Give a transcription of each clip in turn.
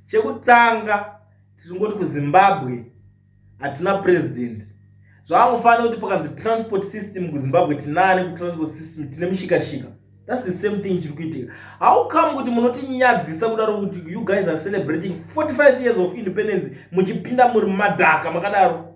chekutanga tichingoti kuzimbabwe hatina president zvaangofanira kuti pakanzi transport system kuzimbabwe tinane kutransport system tine mushikashika thats the same thing chiri kuitika how come kuti munotinyadzisa kudaro kuti you guys are celebrating 45 years of independence muchipinda muri madhaka makadaro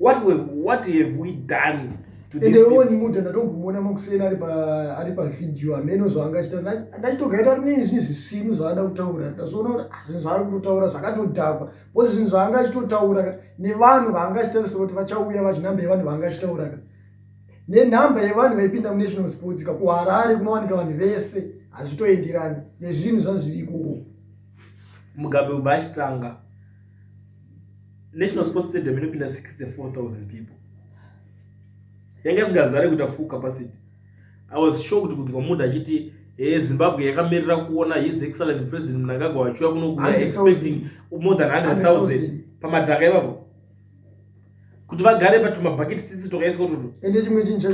what we what have we done ende woni munhu ndatombomuona makuseni ari ari pavideo amene zvaanga achita ndachitogaita kuti nei zvinhu zvisinu zvaada kutaura ndazoona kuti ah, zvinhu zvaari kutotaura zvakatodhakwa bcause zvinhu zvaanga achitotaura ka nevanhu vaanga achitaurisa kuti vachauya vachinhamba yevanhu vaanga achitaura ka nenhamba yevanhu vaipinda munational sports ka kuharare kunowanika vanhu vese hazvitoenderani nezvinhu zvazviri ikoko mugabe ubachitanga national sports stadium inopinda 64000 people yanga isingazare kuita full capacity i was sure kuti kunzwa munhu achiti e zimbabwe yakamirira kuona his excellence president mnangagwa vachiuya kuno kuya expecting more than 100000 pamadhaka ivapo kuti vagare patumabhaketi sisi tokaiswa tutu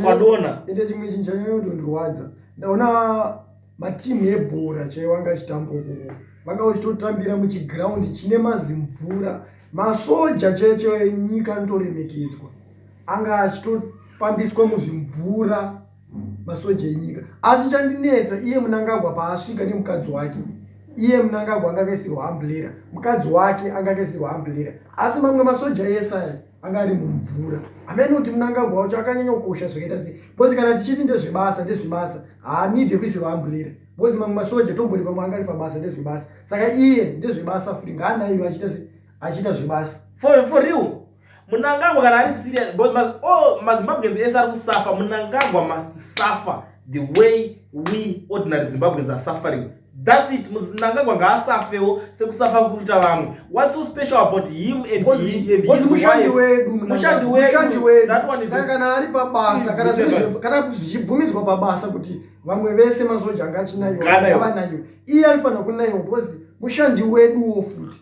twadona ende chimwe chinhu chanyaya yondondirwadza ndaona matimu ebhora chaiwo anga achitamba ukuko vanga vachitotambira muchigraundi chine mazimvura masoja cheche enyika anotoremekedzwa anga achitofambiswa muzvimvura masoja enyika asi chandinetsa iye munangagwa paasvika nemukadzi wake iye munangagwa anga akaisirwa amblera mukadzi wake anga akaisirwa amblera asi mamwe masoja ese aya anga ari mumvura amene kuti munangagwa wacho akanyanya kukosha zvakaita sei bcause kana tichiti ndezvebasa ndezvebasa haanidhe kuisirwa ambulira bcause mamwe masoja tombori pamwe anga ari pabasa ndezvebasa saka iye ndezvebasa futi ngaanaiva achiita se achiita zvebasa for, for real munangagwa kana ari serious bcause mas, oh, mazimbabweans ese ari kusafa munangagwa must suffer the way we ordinary zimbabweans are suffering That's it. Mnangagwa ngaasafewo sekusafa kuita vamwe. What's so special about him and because, he and his mushandi wedu mushandi wedu that one is kana ari pabasa kana kana kuzvibvumidzwa pabasa kuti vamwe vese mazoja anga achinayo kana vanayo iye alifanira kunaiwa because mushandi weduwo futi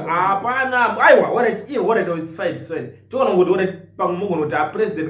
hapana aiwa orit iye orit its fine its fine toona kuti orit pamwe mogona kuti apresident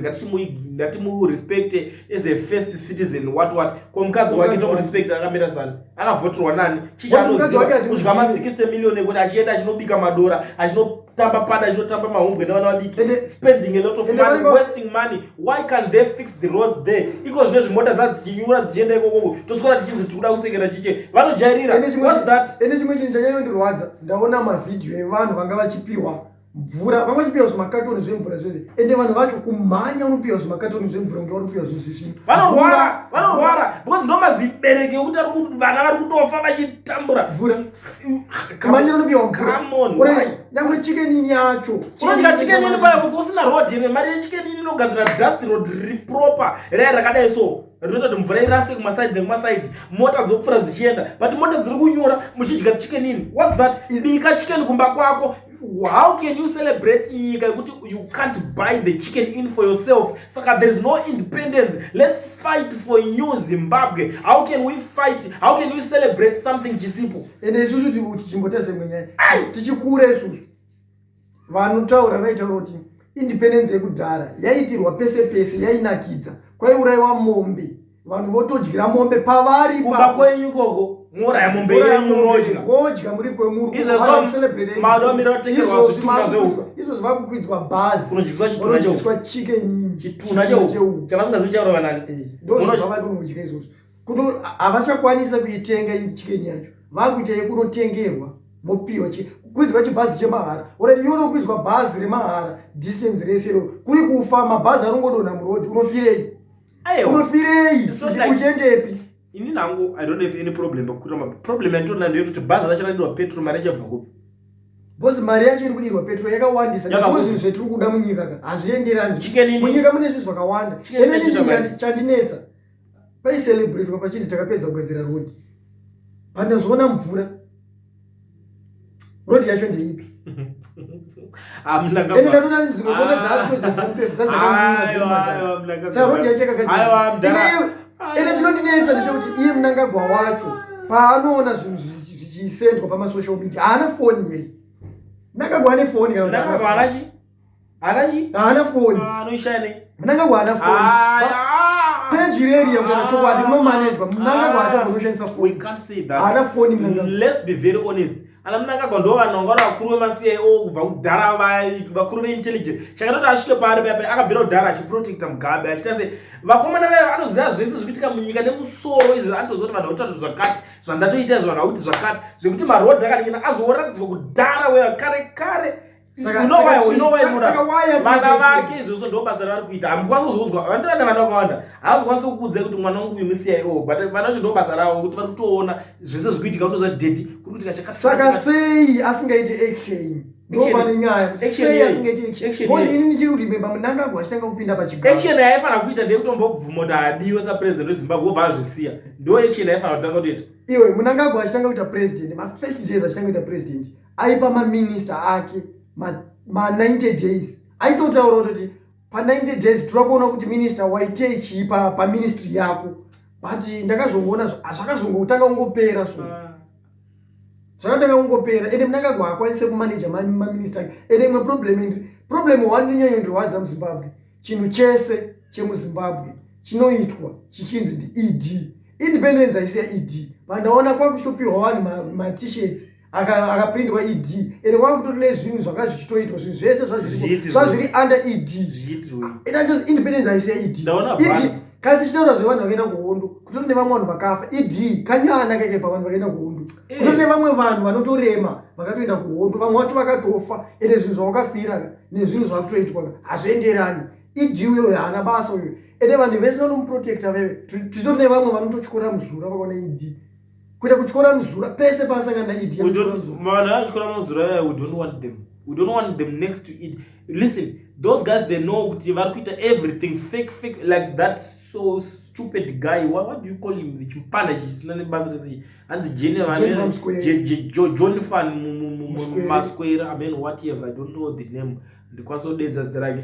ngatimurespecte as a first citizen what what ko mukadzi wake tomurespecta akamira zani akavhoterwa nani chichanoziva kuzvika ma 60 million ekuti achienda achinobika madora achino tamba pada inotamba mahumbwe nevana vadiki and spending a lot of money go... wasting money why can they fix the roads there iko zvine zvimota za dzichinyura dzichienda ikokoko toswera tichinzi tiri kuda kusekera chiche vanojairira whats that ende chimwe chinhu chanyanya ndirwadza ndaona mavhidhiyo evanhu vanga vachipihwa mvura vanga vachipihwa zvimakatoni zvemvura zveve ende vanhu vacho kumhanya unopihwa zvimakatoni zvemvura kunge vanopihwa zvezvizvino vanorwara vanorwara because ndomazibereki ekuti vana vari kutofa vachitambura mvura manje unopihwa mvuranyangwe chikenini yacho unodya chikenini paya kuti usina road here mari yechikenini inogadzira dust road riri proper raya rakadai so rinoita kuti mvura irase kumasaidi nekumasaidi mota dzokupfura dzichienda but mota dziri kunyora muchidya chikenini whats that bika chikeni kumba kwako how can you celebrate nyika yekuti you can't buy the chicken in for yourself saka there is no independence let's fight for new zimbabwe how can we fight how can we celebrate something chisipo ende isusu tichimbotese mwenyaya tichikura isusu vanotaura vaitaura kuti independence yekudhara yaitirwa pese pese yainakidza kwaiuraiwa mombe vanhu votodyira mombe pavari kumba kwenyu ikoko muuraya mombe yenyu modya wodya muri kwemuruizvozvi vakukwidzwa bhazi unodyiswa chitunha cheudyiswa chicken chitunha cheuku chavasingazivi chaurova nani eh, ndozvavai kunodya izvozvo kuto havachakwanisa kuitenga chicken yacho vakuita yekunotengerwa mopiwa kwidzwa chibhazi chemahara orati iwe unokwidzwa bhazi remahara distance rese ro kuri kufa mabhazi anongodonha murodhi unofirei unofirei uchendepi ini nangu i don't have any problem pakukuta problem yanditoona ndeyekuti bhazi racho raidirwa petrol mari yachabva kupi bcause mari yacho iri kudirwa petrol yakawandisa nezvimwe zvinhu zvetiri kuda munyika ka hazvienderani munyika mune zvinhu zvakawanda enenii chandinetsa paicelebrate papachinzi takapedza kugadzira rodi pandazviona mvura road yacho ndeipi ende chinondinetsa ndechekuti iye munangagwa wacho paanoona zvinhu zvichisendwa pamasocial media haana foni here munangagwa ane foni kana Haana chi? Haana phone. Ah, anoishaya nei? Mnangagwa haana phone. Ah, ah, Page reri yakutaura chokwadi munomanejwa. Mnangagwa haana kunoshandisa phone. We can't say that. Haana phone Mnangagwa. Let's be very honest. Ana Mnangagwa ndo vanongora vakuru vemaCIO kubva kudhara vai vakuru veintelligence. Chakatoti asvike paari paya paya akabvira kudhara achiprotecta Mugabe achita se vakomana vaya anoziva zvese zvikuitika munyika nemusoro izvi anotoziva kuti vanhu vakutoita zvakati zvandatoita izvi vanhu vakuti zvakati zvekuti maroad akaningina azooratidzwa kudhara weakare kare. vana vake izvozvo ndo basa ravari kuita hamukwanisi kuzoudzwa vandirana vana vakawanda havazokwanisi kukuudzai kuti mwana wangu uyu muciio but vana vacho ndo basa ravo kuti vari kutoona zvese zviri kuitika kutoza deti kuri kuitika chakasaka sei asingaiti action action yaifanira kuita ndeyekutombobvuma kuti adiwe sapresident wezimbabwe obva azvisiya ndo action yaifanira kutanga kutoita iwe munangagwa achitanga kuita president mafirst days achitanga kuita president aipa maminista ake ma90 days aitotaura kutoti pa90 days tira kuona kuti minista waitei chii paministry yako but ndakazongoona zvakazongotanga kungopera so ah. zvakatanga kungopera ende mnangagwa hakwanise kumanaja maminista ake ende imwe problem indi problem one ninyanyondirwadza muzimbabwe chinhu chese chemuzimbabwe chinoitwa chichinzi ndied independence haisi yaed vandaona kwakuchitopiwa vanhu matishets akapindwa aka ed ende kwanga kutori nezvinhu zvanga zvichitoitwa zvinhu zvese zvazviri under ed independence haisi yaed ed kana tichitaura zvevanhu vakaenda kuhondo kutori nevamwe vanhu vakafa ed kanyana keke pavanhu vakaenda kuhondo eh. kutori nevamwe vanhu vanotorema vakatoenda kuhondo vamwe vacho vakatofa ende zvinhu zvavakafira nezvinhu zvakutoitwa hazvienderani ed uyo haana basa uyo ende vanhu vese vanomuprotecta veve titori nevamwe vanototyora muzura vakaona ed kuita kutyora muzura pese paasangana naidi vanhu atyora muzura yaya we don't want them we don't want them next to it listen those guys they know kuti vari kuita everything fake fake like that so stupid guy what, what do you call him chimpanda chisina nebasa rese hanzi jenevanjohnfan masquare amen whatever i don't know the name ndikwanisa kudedza zita rake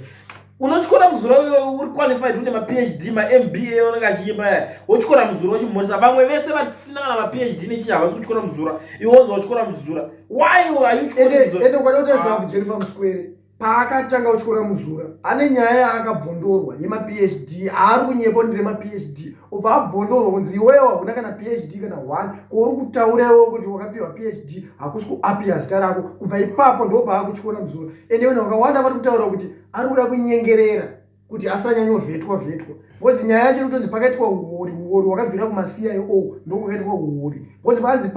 unotyora muzuro iyoyo uri qualified une maphd mamba onenge achiimba ya wotyora muzuro wachimhoresa vamwe vese vasina kana maphd nechinyi havasi kutyora muzura iwe wonzi watyora muzura why ayuende kwada kutaziva ah. kujennifer muswere paakatanga kutyora muzura ane nyaya yaakabvondorwa yemaphd aari kunyepo ndire maphd ubva abvondorwa kunzi iwewe wahuna kana phd kana one kouri kutaura iwewe kuti wakapiwa phd hakusi kuapiya zita rako kubva ipapo ndobva akutyora muzura ende vanhu vakawanda vari kutaura kuti ari kuda kunyengerera kuti asanyanyovetwa vetwa bcause nyaya yacho inotonzi pakaitwa uori uori wakabvira kumacio ndokwakaitwa uori bcause panzi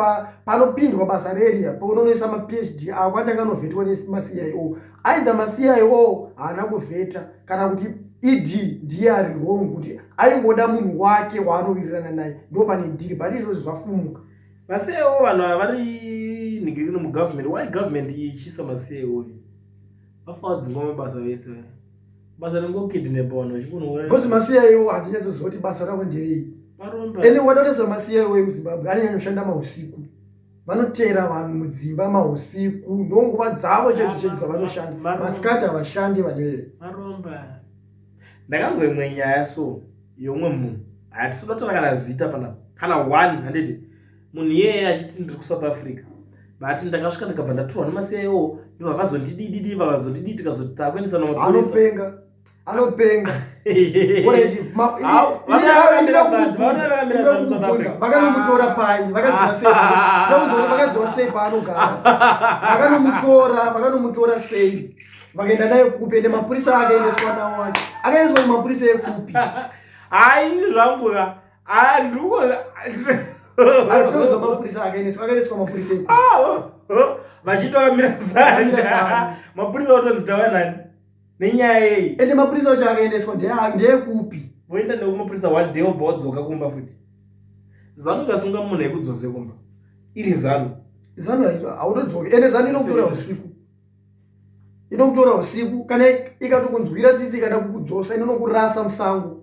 panopindwa basa reria paunonoisa maphd ako andanga anovetwa nemacio Aidha masiya iwowo haana kuvheta kana kuti ed ndiye ari wrong kuti aingoda munhu wake waanowirirana naye ndo pane dhiri but izvozvi zvafumuka masiya iwowo vanhu ava vari nigirino mugovernment why government ichiisa masiya iwoyo vafawa dzingwa mabasa vese vaya basa rengokidnapa vanhu vachikunoura bcause masiya iwo handinyatsoziva kuti basa ravo nderei ene wadakutoziva masiya iwoyo muzimbabwe anonyanya kushanda mausiku vanoteera vanhu mudzimba mahusiku ndonguva dzavo chedzi chedzi dzavanoshanda masikati havashandi vanee ndakanzwa imwe nyaya so yomwe munhu hatisi totora kana zita pana kana one handiti munhu iyeye achiti ndiri kusouth africa but ndakasvika ndikabva ndatorwa nemasiyaio ndovavazondidididi vavazondidii tikazotakuendesa naanopenga anopenga vakanomutora panyi vakazovaseivakazowa sei paanogara vakanomutora vakanomutora sei vakaenda naye kupi ende mapurisa akaendeswa nawo wacho akaendeswa kumapurisa ekupi hai zvanguka andikuoatinozwa mapurisa akaendeswa akaendeswa mapurisa ekupi ah, oh, oh, vachitovamira zani mapurisa otonzi tawanani nenyaya yei ende mapurisa acho akaendeswa ndeyekupi voenda nekumapurisa one day obva wadzoka kumba futi zanu ikasunga munhu yekudzose kumba iri zanu zanu haunodzoki ende zanu inokutora usiku inokutora usiku kana ikatokunzwira tsitsi ikada kukudzosa inonokurasa musango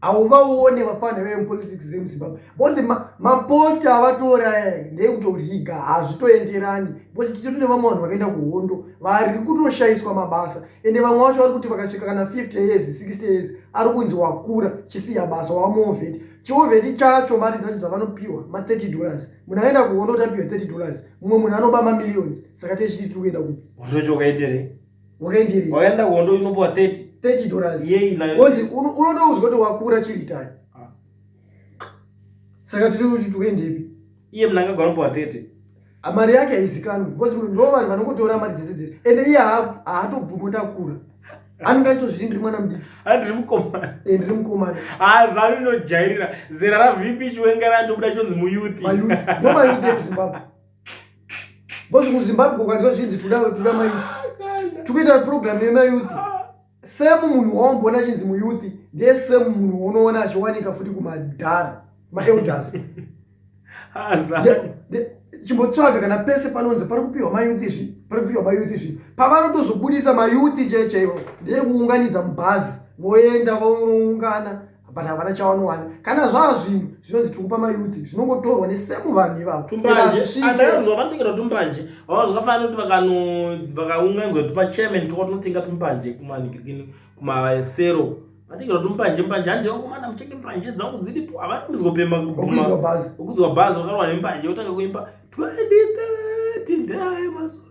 hauvaone vafana vemupolitics vemuzimbabwe bcause maposti avatora eh, ndeyekutoriga hazvitoenderani bcause titori nevamwe vanhu vakaenda kuhondo vari kutoshaiswa mabasa ende vamwe vacho vari kuti vakasvika kana 50 years 60 years ari kunzi wakura chisiya basa wamovheti chiovheti chacho mari dzacho dzavanopiwa ma30 dollars munhu aenda kuhondo tapiwa 30 dollars mumwe munhu anoba mamillions saka tezviti tiri kuenda kupi wakaenderei wakaenda kuhondo unopuwa 30 30 dollars yei nayo onzi unotoudzwa kuti wakura chiritai ah. saka tiri kuti tukaendepi iye mnhu angagona kupuwa 30 ah, mari yake haizikanwi because ndo vanhu vanongotora mari dzese dzese ende iye haatobvumo ndakura anenge achitozviti ndiri mwana mudiki a ndiri mukomana e ndiri mukomana a zanu inojairira zera ravp chiwengerani tobuda chonzi muyuthi mayuthi no mayuthi emuzimbabwe Boss kuZimbabwe ukanzwa zvinzi tuda tuda mai tukuita program yema youth same munhu waumboona chinzi mu youth ndiye same munhu unoona achiwanika futi kumadhara ma elders chimbotsvaga kana pese panonzi pari kupiwa mayouth izvi pari kupiwa mayouth izvi pavanotozobudisa mayouth checheiwo ndeyekuunganidza mubhazi voenda voungana but havana chawanowana kana zvava zvinhu zvinonzi tiri kupa mayuthi zvinongotorwa nesemu vanhu ivavotumbanjeandakanzwa vanotengera tumbanje vava zvakafanana kuti vakaunganzwa kuti pachairman toko tinotenga tumbanje kumanikirikini kumasero vatengera tumbanje mbanje handi vakomana muchenge mbanje dzangu dziripo havanoizwa pema kudzwa bhazi vakarowa nembanje otanga kuimba 2013 ndaayo mazuva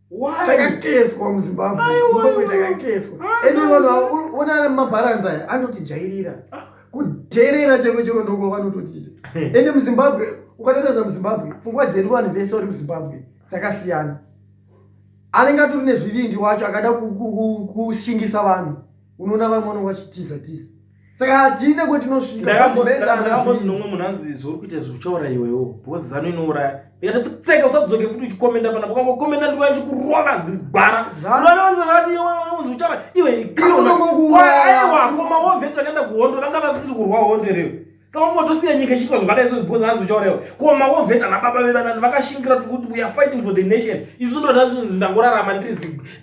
takakeswa muzimbabwe zimbabwe takakeswa ende vanhu avo onana mabharanzi aya anotijairira ah. kudherera cheko cheko ndoko vanototiita ende muzimbabwe ukatotaza muzimbabwe pfungwa dzedu vanhu vese vari muzimbabwe dzakasiyana anenge atori nezvivindi wacho akada kushingisa vanhu unoona vamwe vanonga vachitiza tiza saka hatine kwetinosvikandakambozwi nomwe munhu anzi zvauri kuita zvi uchauraya iwewo because zano inouraya ikati pfutseka usadzoke futi uchikomenda panapa kanga ukomenda ndiwa chikurova zigwara zanoanzazatiunzi uchauraya iwe iweakomawavo eh, veti vakaenda kuhondo vanga vasisiri kurwa hondo reo saka kungotosiya nyika ichiitwa zvakadai so because anzi uchauraiwa komawavo veti ana baba vevanani vakashingira tikuti we are fighting for the nation isu ndonazvinzi ndangorarama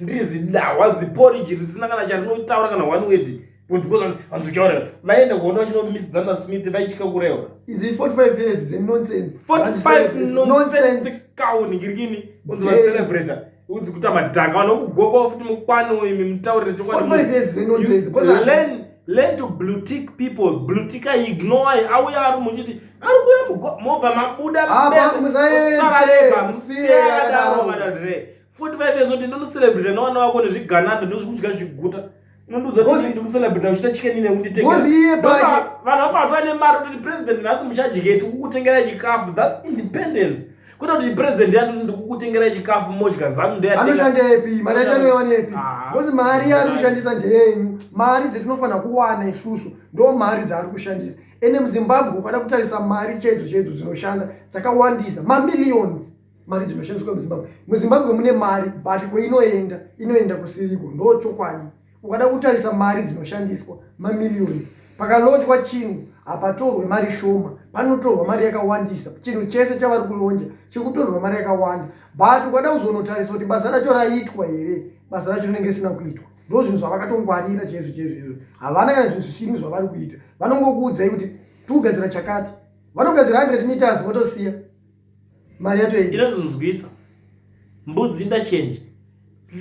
ndiri zidahwa ziporiji risina kana chandinotaura kana one wedi because vanzi uchauraya vaenda kuona vachinomisidzana nasmith vaitya kurewa izi 45 years dzenonsense 45 nonsense cow ningirikini unzi vacelebrator unzi kuita madhaka vanhu vokugokwa futi mukwano imi mutaurire chokwadilearn learn to bluetick people bluetika ignore auya ari muchiti ari kuya mobva mabuda ah, musaarega musiyadaro vanhu re 45 years old ndinocelebrate nevana vako nezvigananda ndozvikudya zviguta unondiudza kuti ndikucelebrate uchita chicken ine kunditengevanhu vakuvatova nemari kuti president nhasi muchadyeti kukutengera chikafu thats independence kwete kuti president yati ndikukutengera chikafu modya zanu ndeanoshandepi mari yacho anoiwanepi ah. bcause mari yaari kushandisa ndeyenyu mari dzetinofanira kuwana isusu ndo mari dzaari kushandisa ende muzimbabwe ukada kutarisa mari chedzo chedzo dzinoshanda dzakawandisa mamillions mari dzinoshandiswa muzimbabwe muzimbabwe mune mari but kwainoenda inoenda kusiriko ndo chokwadi ukada kutarisa mari dzinoshandiswa mamillions pakalonjwa chinhu hapatorwe mari shoma panotorwa mari yakawandisa chinhu chese chavari kulonja chikutorwa mari yakawanda but ukada kuzonotarisa kuti basa racho raitwa here basa racho rinenge risina kuitwa ndo zvinhu zvavakatongwarira chaizvo chaizvo izvo havana kana zvinhu zvisini zvavari kuita vanongokuudzai kuti tiugadzira chakati vanogadzira 100 meters votosiya mari yato inonzonzwisa mbudzi ndachange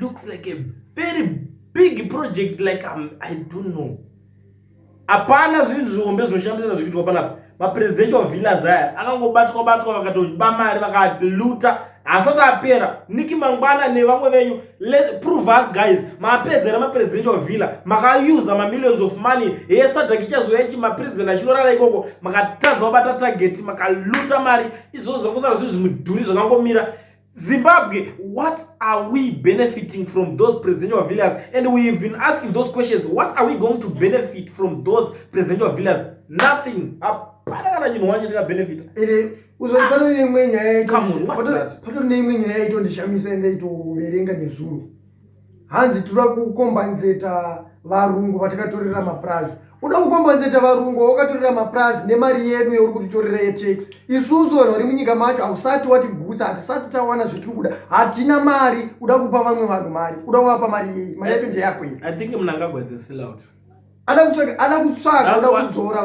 looks like a very big project like I'm, i don't know hapana zvinhu zvihombe zvinoshandisira zvikuitwa panapa mapresidential villas aya akangobatwa batwa vakatoba mari vakaluta haasati apera niki mangwana nevamwe venyu Let, prove us guys mapedzera mapresidential villa makausa mamillions of money heye sadhaki ichazouya chi mapresident achinorara ikoko makatadza kubata target makaluta mari izvozvo zvakusara zvinhu zvimudhuri zvakangomira zimbabwe what are we benefiting from those presidential villas and we've been asking those questions what are we going to benefit from those presidential villas nothing hapana kana chinhu wacho chakabenefita uzoipata ah. neimwe nyaya yaitopatari neimwe nyaya yaitondishamisa yandaitoverenga nezuro hanzi tinoda kukombanzeta varungu vatakatorera mapurazi uda kukombanzeta varungu vawakatorera mapurazi nemari yedu yauri kutitorera yetax isusu vanhu vari munyika macho hausati watigutsa hatisati tawana zvetiri kuda hatina mari uda kupa vamwe vanhu mari uda kuvapa mari yei mari yacho ndeyako iyi ada kutsvaga ada kutsvaga ada kudzora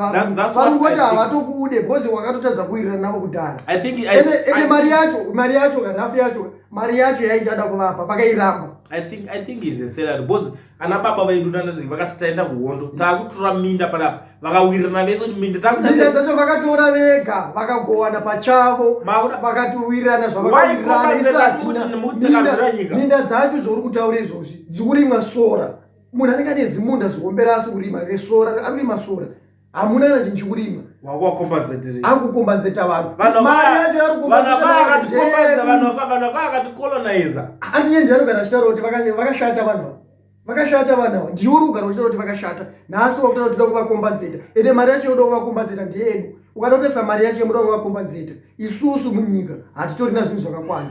varungu vacho havatokude because wakatotadza kuirira navo kudhara ende mari yacho mari yacho kanhafu yacho mari yacho yaichada kuvapa vakairamba i think i think is a salary because ana baba vedu nanazii vakati taenda kuhondo mm. taakutora minda panapa vakawirirana vese kuti minda takuminda dzacho vakatora vega vakagowana pachavo vakatiwirirana zvavakairirana isatina minda dzacho zvauri kutaura izvozvi dzikurimwa sora munhu anenge ane zimunda ziombera asi kurima resora akurima sora hamuna kana chinhu chikurima akukombazeta vanhuakatikoloniza handiye ndianogara achitaura kuti vakashata vanhu ava vakashata vanhu ava ndiwe uri kugara uchitaura kuti vakashata nhasi wakutaura kuti uda kuvakombazeta ende mari yacho yoda kuvakombazeta ndiyedu ukatotesa mari yacho yemuda kuvakombazeta isusu munyika hatitorina zvinhu zvakakwana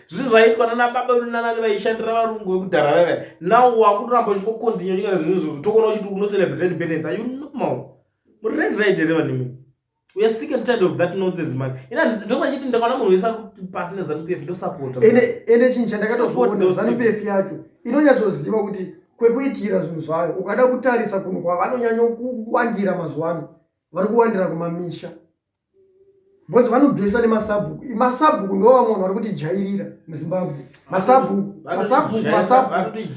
zvinhu zvaiitwa nana baba vedu nanani vaishandira varungu vekudhara vaiva now wakutoramba uchingocontinue chinyara zvinhu izvozvo tokuona uchiti unocelebrate independence are you normal muri right right here vanimi we are sick and tired of that nonsense man ina ndosachiti ndakaona munhu wese pasi nezanu pf ndosapota ende chinhu chandakatoona zanu pf yacho inonyatsoziva kuti kwekuitira zvinhu zvayo ukada kutarisa kunhu kwavanonyanyokuwandira mazuva ano vari kuwandira kumamisha because vanobhesa nemasabhuku masabhuku ndo vamwe vanhu vari kutijairira muzimbabwe masabhuku masabhuku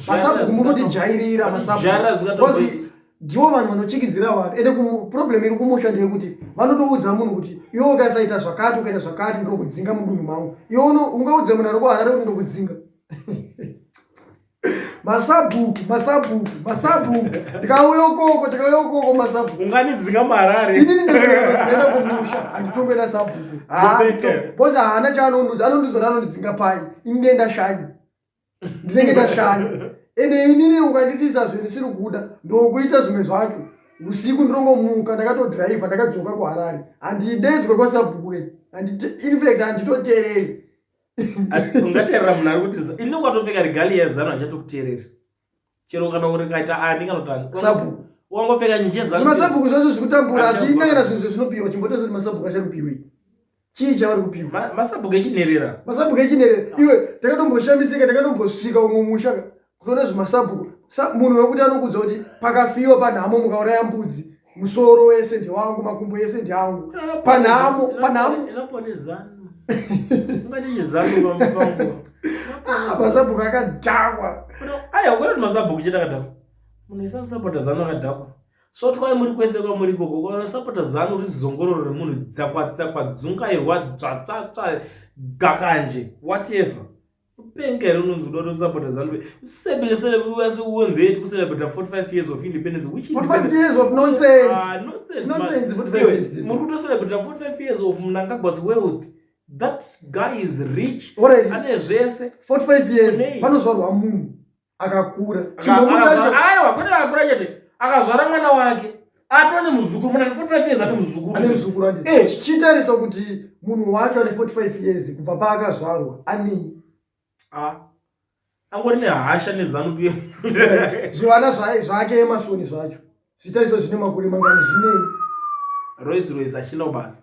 masabhuku muri kutijairira masabhuku ndivo vanhu vanochikidzira vanhu ende problem iri kumusha ndeyekuti vanotoudza munhu kuti iwe ukasaita zvakati ukaita zvakati ndokudzinga mudunhu mangu iwe ungaudza munhu ari kuharare kuti ndokudzinga masabhuku masabhuku masabhuku ndikauya ukoko ndikauya ukoko masabhuku unganidzinga marare ini ndindaenda kumusha handitonge na sabhuku bose haana chaanonduza anonduza ranondidzinga pai ini ndienda shanya ndinenge ndashanya ende inini ukanditisa zve ndisiri kuda ndokuita zvimwe zvacho usiku ndirongomuka ndakatodhiraivha ndakadzoka kuharare handidedzwe kwasabhuku infact handitotereri ungateerera munhu ari kuti ini ukatopfeka regali yezanu achatokuteereri chero kana uri kaita ani kanotani wangopfeka njezvimasabhuku zvacho zvekutambura hazviina kana zvinhu zvezvinopihwa chimbotozo kuti masabhuku achakupiwei chii chavari kupiwa masabhuku echinherera masabhuku echinherera iwe takatomboshamizika takatombosvika umwe musha kutone zvimasabhuku munhu wekuti anokudza kuti pakafiwa panhamo mukauraya mbudzi musoro wese ndewangu makumbo ese ndeangu panhamo panhamo masabhuku akadhakwa aya ukaona kuti masabhuku chete akadhakwa munhu ese anosapota zanu akadhakwa so twai muri kwese kwamuri ikoko ukaona sapota zanu uri zongororo remunhu dzakwatsakwa dzungairwa dzvatsvatsva gakanje whatever kupenga here unonzi uda kutosapota zanu usabesele uase uonze yeti kucelebrata 45 years of independence which ah, muri kutocelebrata 45 years of mnangagwas wealth that guy is rich ane zvese 45 years panozvarwa munhu akakura aiwa kwete akakura chete akazvara mwana wake atova nemuzukuru mwana ane 45 years ane muzukuru ane muzukuru ane eh chitarisa kuti munhu wacho ane 45 years kubva paakazvarwa anei ah angori nehasha nezanu pia zvivana zvake emasoni zvacho zvitariso zvine makore mangani zvinei rois rois achina ubasa